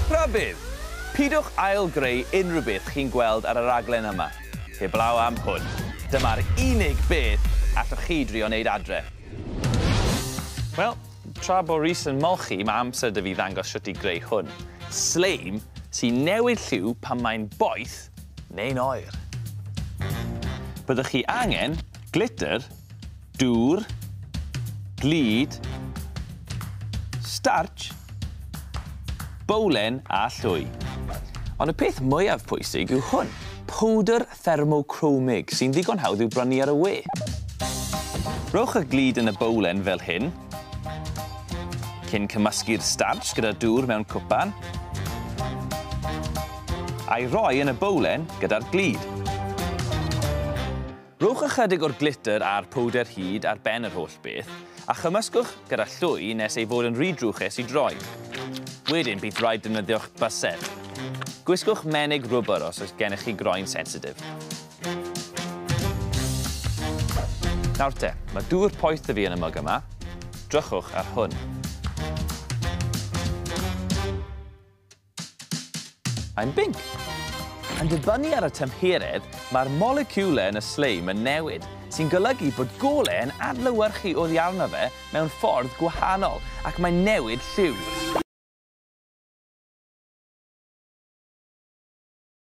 Rhybudd! Pidwch ail-greu unrhyw beth chi'n gweld ar y raglen yma, heblaw am hwn. Dyma'r unig beth allwch chi drio wneud adre. Wel, tra bo Rhys yn molchi, mae amser 'da fi ddangos shwt i greu hwn. Sleim sy'n newid lliw pan mae'n boeth neu'n oer. Byddwch chi angen glitter, Dŵr. Glud. Starch. Bowlen a llwy. Ond y peth mwyaf pwysig yw hwn. Powdr thermocromig sy'n ddigon hawdd i'w brynu ar y we. Rhowch y glud yn y bowlen fel hyn, cyn cymysgu'r starch gyda dŵr mewn cwpan, a'i roi yn y bowlen gyda'r glud. Rhowch ychydig o'r glitter a'r powdr hud ar ben yr holl beth, a chymysgwch gyda llwy nes ei fod yn rhy drwchus i droi. Wedyn bydd rhaid defnyddio'ch bysedd. Gwisgwch menig rwbr os oes gennych chi groen sensitif. Nawr te, mae dŵr poeth 'da fi yn y mwg yma. Drychwch ar hwn. I'm Binc! Yn dibynnu ar y tymheredd, mae'r moleciwlau yn y sleim yn newid, sy'n golygu bod golau yn adlewyrchu oddi arno fe mewn ffordd gwahanol ac mae'n newid lliw.